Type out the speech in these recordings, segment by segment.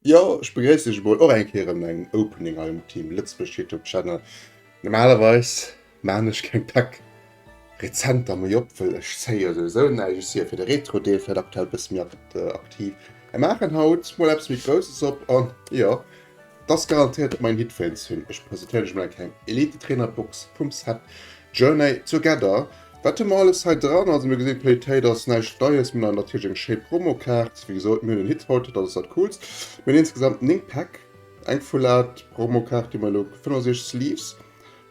Jo, ech begréiss iech emol och eng Kéier an engem Opening hei um Team Lëtzebuerg Youtube Channel. Normalerweis maachen ech keng Tech Rezenter méi op, well ech zéie souwisou näischt. Ech si jo fir de Retro Deel vläit aktuell e bësse méi aktiv, mä maachen haut mol eppes méi Grousses op. An jo, et ass garantéiert main Hit fir een Stream. Ech presentéieren iech mol eng kleng Elite Trainer Box vum Set Journey Together. Wat hu mer alles hei dran? Also mir gesinn, d'Qualitéit ass näischt Neies. Mir hunn hei natierlech eng schéi Promokaart. Wéi gesot, mir hunn en Hithold, dat ass dat Coolst. Mir hunn insgesamt 9 Päck. Eng Full-Art Promokaart, déi mer elo 65 Sleeves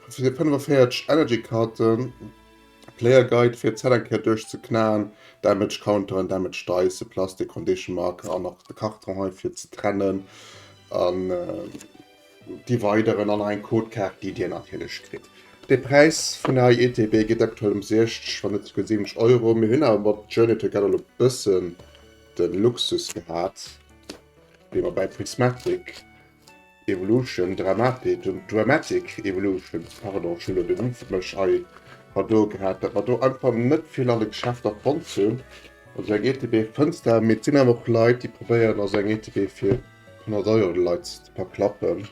fir 45 Energy-Karten, Player Guide fir d'Set eng Kéier duerchzeknaen, Damage Counter an Damage Dice, Plastic Condition Marker an nach de Karton hei fir ze trennen an. Des Weideren an eng Codekaart, déi Dir natierlech kritt. De Präis vun der ITB geet aktuell um 60, wann net souguer 70 Euro. Mir hunn awer mat Journey Together elo e bëssen de Luxus gehat, wéi mer bei Prismatic Evolution, Dramatic, Dramatic Evolution, pardon, ech hunn elo de Wee fir mech hei a do gehat, datt mer do einfach net vill an de Geschäfter fonnt hunn. Also eng ITB fënns de, mee et sinn awer och Leit, déi probéieren, also eng ITB fir. 100 Euro de Leit de Pak klappen.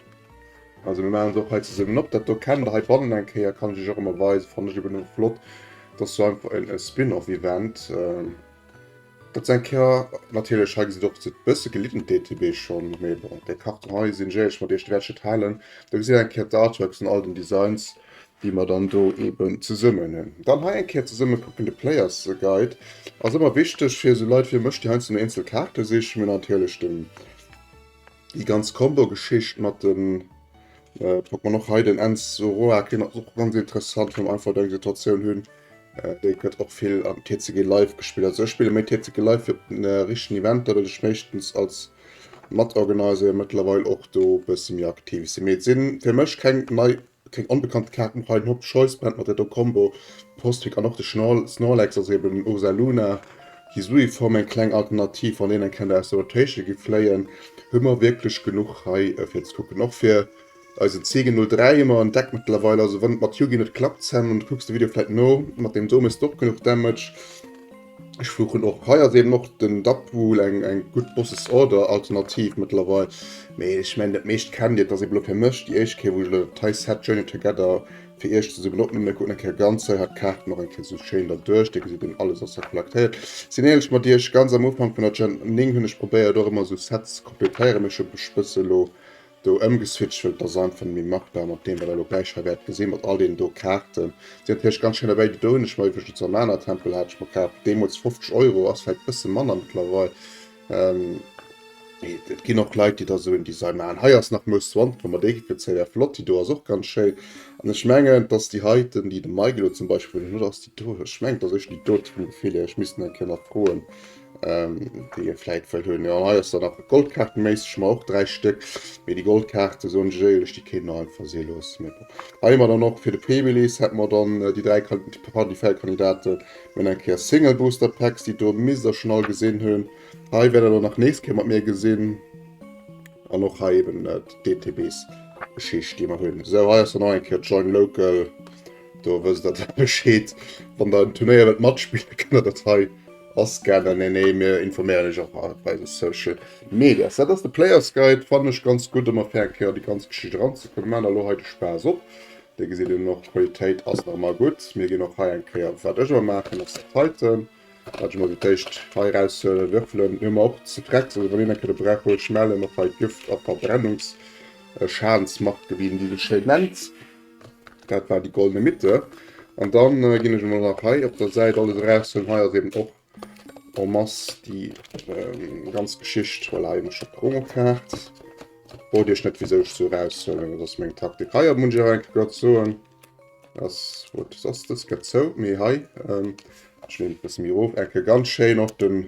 Also mir machen se och hei zesummen op. Dat do kennt der hei bannen eng Kéier, kann ech iech och emmer weisen. Fannen ech eben emmer flott. Dat ass sou einfach en Spin-off Event. Dat ass eng Kéier natierlech, hei gesitt der och e bësse gelidden d'ETB schonn, mee bon, déi Karten hei sinn, jee, ech mat iech de Wäertschëtt halen. Der gesitt der eng Kéier d'Artworks an all den Designs. déi mer dann do eben zesummen hunn. Dann hei eng Kéier zesummen kucken, de Player's Guide ass ëmmer wichteg fir esou Leit wéi mech, déi heiansdo no eenzel Kaarte sichen. Mir hunn natierlech den, déi ganz Combo-Geschicht mat den, kuckt mer och hei den Enns Zoroark, deen ass och ganz interessant, well mer einfach eng Situatioun hunn, déi gëtt och vill am TCG Live gespillt. Also ech spille méi TCG Live fir op den richtegen Eventer, well ech meeschtens als Matorganiser jo mëttlerweil och do e bësse méi aktiv sinn. Mee et sinn fir mech keng nei Keng onbekannt Kaarten, High Note Choice Band mat der Do Combo, Postweg an och de Snorlax, also eben den Ursaluna, Hisuiform, eng kleng Alternativ, wann een eng kennt aus der Rotation gi fléien, hu mer wierklech genuch hei fir ze kucken. Och fir eisen Ziegen 03 hu mer en Deck mëttlerweil, also wann et mat Yugi net klappt, Sam, an du kucks de Video vläit no, mat deem do méchs de och genuch Damage. Ech fluchen och. Hei ass eben och den Dapwuhl eng eng gutt Bosses Order Alternativ mëttlerweil. Mee ech mengen dat meescht kennt dir. Et ass eben elo fir mech déi éischt Kéier wou ech elo dat hei Set Journey Together fir iech zesummen opnimmen. Mir kucken eng Kéier ganz hei hat d'Kaarten och eng Kéier esou schéin da duerch. Dir gesitt eben alles ass hei collectéiert. Sinn éierlech mat iech, ganz am Ufank vun der Gen 9 hunn ech probéiert och ëmmer esou Sets ze completéieren, mee ech hu mech bësse elo do ëmgeswitcht hunn, dass einfach net méi machbar mat deem wat der elo gläich hei wäert gesinn, mat all deenen do Kaarten. Si hat hich ganz schéin dobäi gedoen, ech meng wéi ech et zur Mana Tempel hat, ech mer kaf deemools 50 Euro, ass vläit bësse manner mëttlerweil. Ähm, Et ginn och Leit, déi da sou en Design maachen. Hei ass nach Mousse 20, wa mer déi Équipe gezéie wäer flott, déi do ass och ganz schéin. An ech mengen, dass déi heiten, déi de Mike elo zum Beispill, wou deen huet, ass déi do, ech mengen et ass éischter déi do, vum Gefill hier, ech misst en eng Kéier nach froen, Ähm, déi e vläit wëll hunn. Jo, hei ass dann nach Goldkaarte méisseg, ma och dräi Stéck. Mee déi Goldkaarte soen ech éierlech, déi kéint mer einfach si loosse. Mee bon. Hei hu mer dann och fir de Pemilis hätte mer dann äh, déi dräi Kan- pardon, déi véier Kandidaten mën eng Kéier Single Booster Packs, déi do misst der schon all gesinn hunn. Hei wäert der dann nach nächst Kéier mat mir gesinn. An och hei eben äh, d'DTBs Geschicht, déi mer hunn. Esou, hei ass dann nach eng Kéier Join Local. Do wësst der da Bescheed. Wann der en Turnéier wëllt matspillen, kënnt der dat hei ascannen. Nee, nee, mir informéieren iech och op eise Social Medias. Dat ass de Player's Guide. Fannen ech ganz gutt, ëmmer fair eng Kéier an déi ganz Geschicht eranzekommen. Mir maachen elo hei de Spaass op. Dir gesitt een och, d'Qualitéit ass nach ëmmer gutt. Mir ginn och hei eng Kéier, wat ech ëmmer maachen, ass dat heiten, wat ech ëmmer fir d'éischt hei eraushuelen, Würfelen. Mir hunn mer och ze drecks, also wann een eng Kéier de Brauch huet, schmellen och hei d'Gift a Verbrennungsschadensmacht, wéi een déi esou schéin nennt. Dat war déi goldene Mitte. An dann äh, ginn ech emol nach hei op der Säit alles eraushëllen. Hei ass eben och en masse déi ähm, ganz Geschicht. Voilà, eben schon Promokaart. Wollt Iech net wieso ech so eraushëllen, dat ass meng Taktik. Hei muss ich enke grad soen, ass wat ass das gëtt zou. Mee hei ähm, schleen et bësse méi erof, enke ganz schéin och den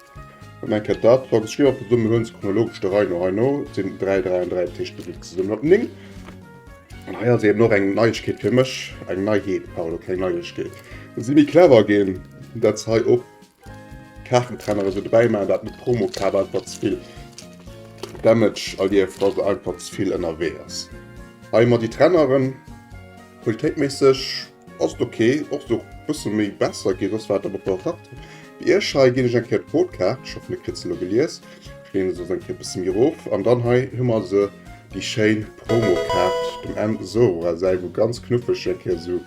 Meng Cat Dat wat ech liewer verdummen hunn, se chronologesch der Rei no heino sinn 3, 3 an 3, dat heescht se gi zesummen op 9. An hei ass eben och eng Neiegkeet fir mech, eng Neiheet, pardon, keng Neiegkeet. Datt si méi clever ginn, datt se hei och Kaartentrenner esou dobäi maachen, dat mat Promokaart einfach ze vill Damage erlieft, wa se einfach ze vill ënnerwee ass. Hei mat déi Trenneren, qualitéitméisseg. Ass ok, och sou bësse méi besser gi soss war et awer op der Takt. Bei iech hei ginn ech eng Kéier d'Code Kaart, ech hoffen dir kritt se elo gelies, ech leeën se soss eng Kéier bësse méi erof, an dann hei hu mer se, déi schéin Promo Kaart, dem Enzo Rah säi wou ganz knuffeg se eng Kéier esou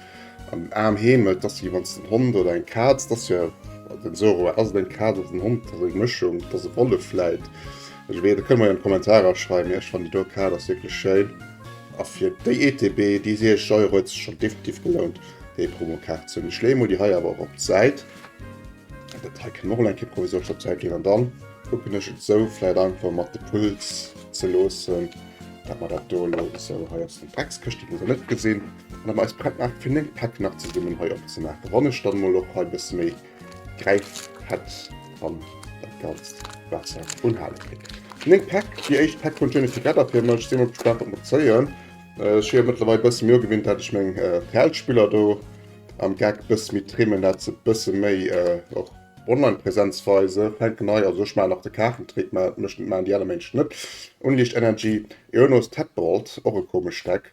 an den Aarm heemelt, dass si wann se en Hond oder eng Kaz, et ass jo, den Enzo Rah, ass et eng Kaz, ass et en Hond, et ass eng Mëschung, et ass e Wollef vläit. Ech wees net, kënnt mer jo an d'Kommentarer schreiwen, mee ech fannen déi do Kaart ass wierklech schéin a fir déi ETB déi 6 Euro huet sech schonn definitiv gelount déi Promokaart ze hunn. Ech leeë mol déi hei awer och op d'Säit, dat hei kënnen mer och nach eng Kéier provisorisch op d'Säit leeën an dann kucken ech et esou vläit einfach mat de Puls ze loossen, dat mer dat do elo esou, hei ass eng Dreckskëscht, déi muss een net gesinn, an dat mer eis prett maachen fir 9 Päck nach zesummen hei opzemaachen, wann ech dann emol och hei e bësse méi. Gräift Pets an dat ganzt wat se unhale kritt. Meng Pack, déi éischt Pack vun Jenny Together fir mech. Sinn mol gespaant wat mer zéien. Ech hu jo mëttlerweil e bësse méi ugewinnt dat ech meng Fäldspiller do am Geck bësse méi trimmen, dat se bësse méi och online Präsenz weise. Fänken hei, also ech maachen nach de Kaartentrick, mä et mécht net, maachen déi aner Ménschen net. Unleashed Energy, Ionos Tadpole, och e komescht Deck.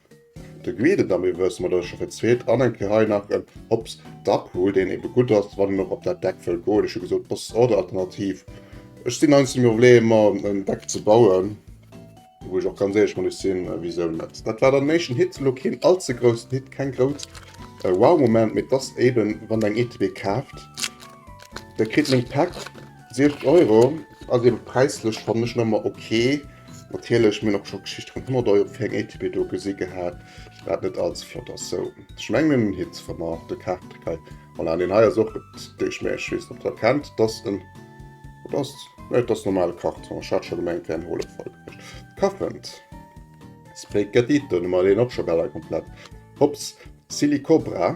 De Guide et am Iwwes mat Ëscher fir d'zweet an eng Kéier hei nach en Hops Dackhut, deen ebe gutt ass, wann een och op dat Deck wëll goen. Ech hu gesot, Boss oder Alternativ. Ech sinn heiansdo mir Probleemer mer en Deck ze bauen, wou ech och ganz éierlech mat iech sinn, wisou net. Dat war dann den éischten Hit, elo keen all ze groussen Hit, keng grouss Wow-Moment, mee et ass eben, wann der eng ETB kaaft, da kritt een eng Pak Sieft Euro ass eben präislech fannen ech nëmmer ok. Natierlech mir hunn och scho Geschichte vun 100 Euro fir eng ATB do gesi gehat, wat net all ze flott ass. Sou ech mengen en Hit wann mer de Kaart hei voilà deen hei ass och et dee ech mé ech weess net ob der kennt et ass en wat ass nee et ass normale Karton ech hat scho gemengt et wär en Holefall gewiescht Kaffent Spaghetti den hu mer deen och scho bal all komplett Hops Silicobra.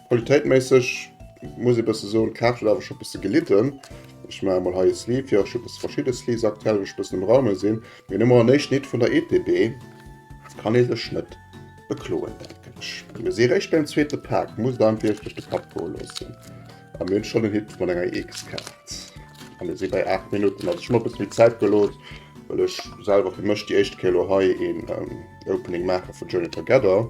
Qualitéitméisseg muss ee bësse soen, d'Kaart huet awer scho bësse gelidden. Ech maache mol hei e Sleeve, jo ech hu bësse verschidde Sleeves aktuell, wou ech bëssen um Raume sinn. Mee elo mol en éischt Lidd vun der EPB, kann ee sech net bekloen, denken ech. Mir si réischt beim zweete Pak, muss et einem vläicht duerch de Kapp goe loossen. A mir hunn schonn en Hit mat enger EX-Kaart. A mir si bei 8 Minutten, also ech hu mer e bësse méi Zäit gelooss, well ech selwer fir mech déi éischt Kéier elo hei een Opening maache vun Journey Together.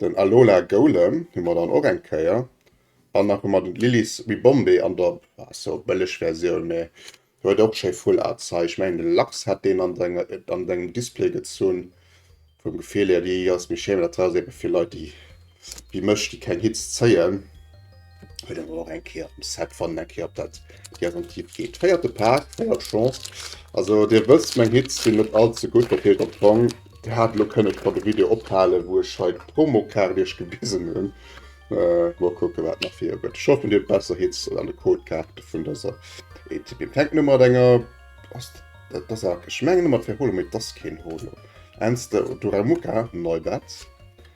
Den Alola Golem hu mer dann och eng Kéier. An nach hu mer den Lily's Ribombee an der so bëlleg Versioun, mä huet och schéi Full Art Zeich. Ech mengen de Lachs hat deen an senge an sengem Display gezunn. Vum Gefill hier, déi ass méi schéin, mä dat ass eebe fir Leit déi wéi mech, déi keng Hitz zéien. Huet awer och eng Kéier am Set wann eng Kéier op dat Garantie geet. Féierte Paak, féiert Chance. Also Dir wësst, meng Hits sinn net all ze gutt, dat heescht op d'Rang. Dir hat elo kënne schonn de Video ophalen, wou ech hei d'Promokaart Iech gewisen hunn. Mol kucke wat nach vir gëtt. Ech hoffen Dir hutt besser Hits an de Codekaarte vun dëser ETB. Fänkt nëmme mat enger, ass dat ass a, ech mengen ëmmer et wär Holo, mee et ass keen Holo. Enz de Duramuka, Neubert.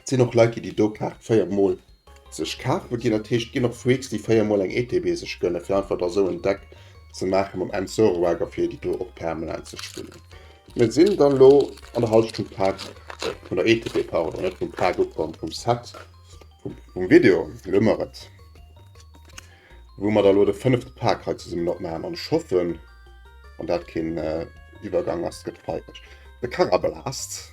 Et sinn och Leit déi déi do Kaart 4 mol sech kafe ginn. Dat heescht et ginn och Freaks déi 4 mol eng ETB sech gënne fir einfach der sou en Deck ze maache mam End Zoroark a fir déi do och permanent ze spillen. Mir sinn dann elo an der Hallschtung Paak vun der ETB, pardon net vum Paak ukomm, vum Set vum Video elo hu mer et, wou mer da elo de fënnefte Paak hei zesummen opmaachen an ech hoffen wann dat keen Iwwergang ass gëtt feileg de Karabelaszt.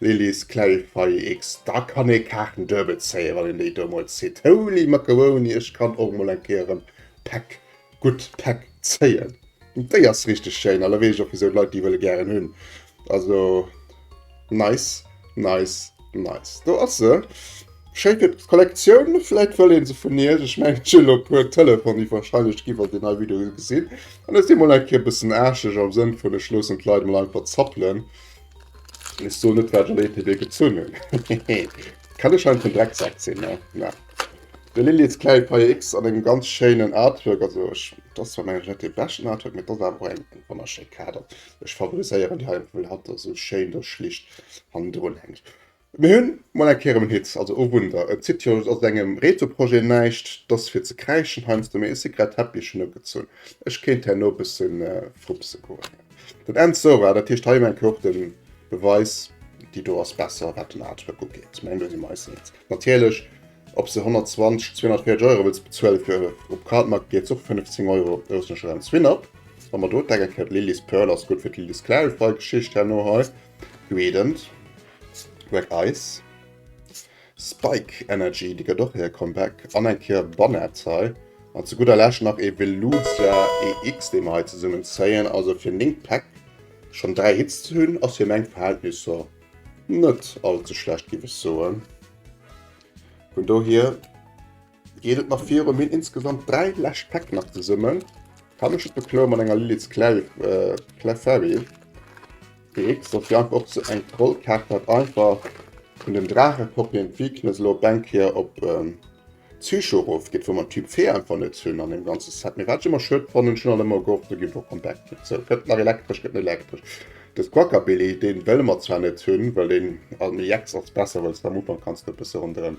Lilly's Clarify X, Da kann ee Kaarten duebel zéien, wann een déi domols zitt. Holy Macaroni, ech kann och mol eng Kéier en Pack, gutt Pack, zéien. Déi ass richteg schéin, an da weess ech och wisou d'Leit déi wëlle gären hunn. Also nice, nice, nice. Do ass se. Schéi fir d'Kollektioun, vläit wëll ee se vun iech. Ech mengen, ech hunn elo e puer Telefon iwwerscheinlech ginn, wann se déi nei Video gesinn. An ech sinn mol eng Kéier e bëssen aascheg am Sënn vun, ech loossen d'Leit mol einfach zappelen. Wees du net wat Lady dei gezunn hun? Hehe kann e schein vun Drecksack sinn ne? Na de Lilly's Clay PX an engem ganz schéinen Artwork, also ech dat ass zwar mengen ech net dee beschten Artwork, mee et ass awer eng wonnerschéi Kader. Ech favoriséieren déi hei, well hatt ass esou schéin do schlicht hannendrun hänkt. Mir hun mol eng Kéier em en Hit, also o Wunder, et zitt jo aus engem Retro-Projet näischt, t'ass fir ze kräischen heiansdo, mee e Secret Teppich hun ugezunn, ech kéint herno e bësse frupse goen. Den End Sora, dat heescht hei um Enke och den Beweis, déi do ass besser wat den Artwork ugeet, mengen do si mer eis eens. Natierlech ob s de 120, 240 Euro wëlls bezuelen fir op Cardmarket geet s och 15 Euro aus dem Schrems Win-Up. Wa mer do d'Deck erklären, d'Lily's Pearl ass gutt fir d'Lily's Clarify Geschicht herno hei, Gradient. Black Ice. Spike Energy, déi gëtt och hire Comeback. An eng Kéier Bonnette hei. An zu gudder Lescht nach ee Velusia EX, dee mer hei zesummen zéien. Also fir néng Päck schonn dräi Hits ze hunn, ass fir meng Verhältnisser net all ze schlecht, géif ech soen. Vun dohier. Geet et nach viru mir insgesamt 3 läscht Päck nach zesummen kann ech et bekloe mat enger Lilith Clefairy X dat fir einfach och zu eng Trollkaart dat einfach vun den Drache Copien d'Weakness elo op eng Kéier op Psycho erof geet, wou mer Typ Fee einfach net hunn an deem ganze Set. Mee wat ech ëmmer schued fannen, ech hunn an ëmmer gehofft do géif och en Deck kréien. Sou, gëtt nach elektresch, gëtt elektresch. De Squawkabilly dee wëlle mer zwar net hunn, well deen an EX ass besser, well s de am Ufank kanns de e bësse ronderëm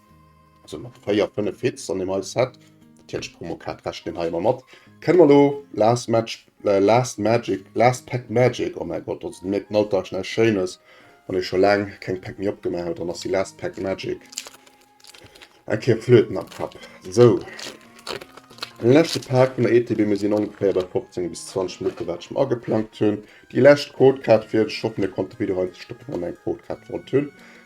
Also mat 4, 5 Hits an dem Ice Set. Natierlech Promokaart rechent een hei ëmmer mat. Kënne mer elo Last Match, äh, Last Magic, Last Pack Magic, oh mäi Gott, also Dir mierkt den Alltag ass näischt Schéines. Wann ee scho laang keng Pack méi opgemaach huet, dann ass déi Last Pack Magic eng Kéier Flöten am Kapp. Sou, den leschte Pak vun der ETB. Mir sinn ongeféier bei 15 bis 20 Minutten, wat ech mer ageplangt hunn. Déi lescht Codekaart fir, ech hoffen, Dir konnt de Video hei stoppen, wann Der eng Codekaart wollt hunn.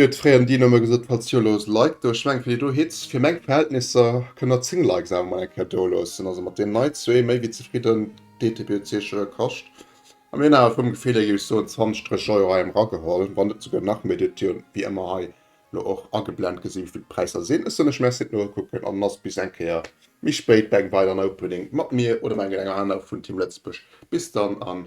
Mir huet fréier den Dino mol gesot falls jo looss like do, ech mengen fir déi do Hits fir meng Verhältnisser kënnt der 10 likes awer mol eng Kéier do loossen, also mat deem nei zwee méi wéi zefridden, dtbc jo kascht a mir hunn awer vum Gefill hier géif ech soen 20, 30 Euro hei emrageholl, wann net souguer nach méi, dierft jo wéi ëmmer hei lo och ageblend gesi wéivill d'Präisser sinn, ech soen lech merci fir d'Nokucken an ass bis eng Kéier méi spéit bei engem weideren Opening mat mir oder mengen enger anerer vun Team Lëtzebuerg, bis dann an